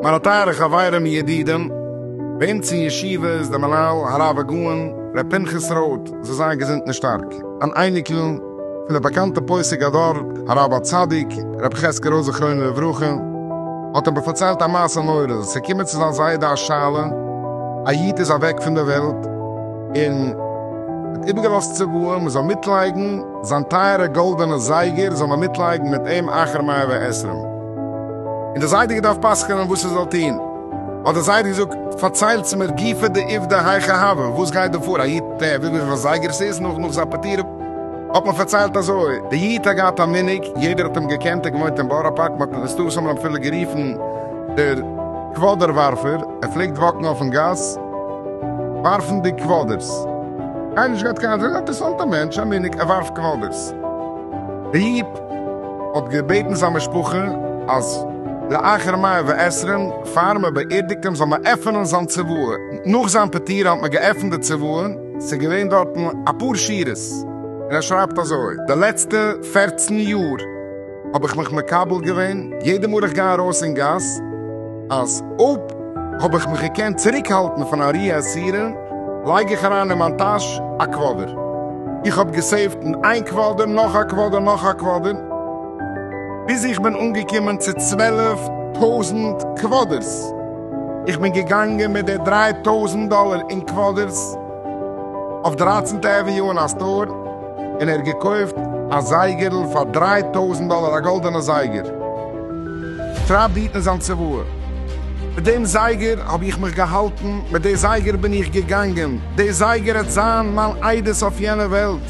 מיינע טייערע חברים ידידים, ביים צ אין ישיבה איז דער מנהל הרב הגאון ר' פנחס רוט זיי זיין געזונט און שטארק, אן אייניקל, פון די באקאנטע פוסק הדור הרב הצדיק רבי חזקי רויזער זכרונו לברכה האט איבער פארציילט א מעשה נורא, עס איז געקומען צו זיין זיידע א שאלה, א איד איז אוועק פון די וועלט און האט איבערגעלאזט צוואה מען זאל מיטלייגן זיין טייערע גאלדענע זייגער זאל מען מיטלייגן מיט אים אחר מאה ועשרים און די זיידע געדארפט פסק'נען וואס ער זאל טון האט די זיידע געזאגט פארציילטס מיר גופא דעובדא היכא הוה וואס גייט דא פאר א איד טער וויפיל זייגער עס איז נאך נאך זיין פטירה האט מען פארציילט אזוי, די איד האט געהאט א מנהג, יעדער האט אים געקענט, ער האט געוואוינט אין בארא פארק, מען האט אים מסתבר אמאל אפילו גערופן דער קוואדער ווארפער, ער פלעגט וואקן אויפן גאס ווארפנדיג קוואדערס, קיינער נישט געהאט קיין, זייער אינטערעסאנט א מענטש, א מנהג, ער ווארפט קוואדערס. די איד האט געבעטן זיין משפחה אז לאחר מאה ועשרים פאר מען באערדיגט אים זאל מען עפענען זיין צוואה, נאך זיין פטירה האט מען געעפנט די צוואה, ס'איז געווען דארטן אפאר שורות און ער שרייבט אזוי, די לעצטע פערצן יאר האב איך מיך מקבל געווען יעדע מאל איך גיי ארויס אין גאס אז אויב האב איך מיך געקענט צוריק האלטן פון א רי עשירה לייג איך אריין אין מיין טאש א קוואדער, איך האב געסעיווט אין איין קוואדער נאך א קוואדער נאך א קוואדער, ביז איך בין אנגעקומען צו צוועלף טויזנט קוואדערס. איך בין געגאנגען מיט די דריי טויזנט דאלער אין קוואדערס אויף דרייצענטע עוועניו אין א סטאר, און ער האט געקויפט א זייגערל פאר דריי טויזנט דאלער, א גאלדענע זייגער, שרייבט די איד אין זיין צוואה, מיט דעם זייגער האב איך מיך געהאלטן, מיט די זייגער בין איך געגאנגען, די זייגער העט זיין מיין עדות אויף יענע וועלט,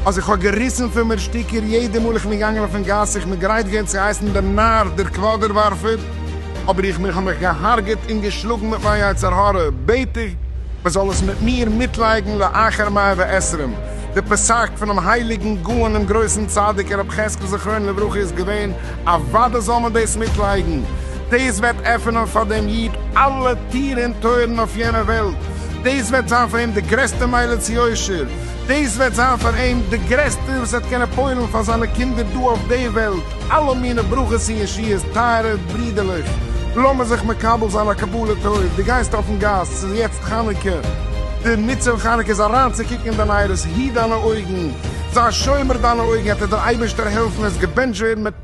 אז איך האב געריסן פון מיר שטיקער יעדע מאל איך בין געגאנגען אויפן גאס, איך בין גרייט געווען צו הייסן דעם נאר, דער קוואדער ווארפער. אבער איך מיך האב מיך געהארגעט און געשלאגן מיט מיין יצר הרע, בעט איך מען זאל עס מיט מיר מיטלייגן לאחר מאה ועשרים, די פסק פונעם הייליגן גאון און גרויסן צדיק הרב חזקל זכרונו לברכה איז געווען, אוודאי זאל מען דאס מיטלייגן, דאס וועט עפענען פאר דעם איד אלע טיר און טויערן אויף יענע וועלט, דאס וועט זיין פאר אים די גרעסטע מעלה צו יושר, דאס וועט זיין פאר אים די גרעסטע וואס ער וועט קענען פועל'ן פאר זיינע קינדער דא אויף די וועלט, אלע מינע ברכות און ישועות, טייערע ברידערלעך, לאמיר זיך מקבל זיין א קבלה טוב, דו גייסט אויפן גאס, ס'איז יעצט חנוכה, די מצוה פון חנוכה איז אריינצוקוקן אין דיין נייערס, היט דיינע אויגן, זיי שומר דיינע אויגן, עט וועט דיר אייבערשטער העלפן, עס געבענטשט ווערן מיט.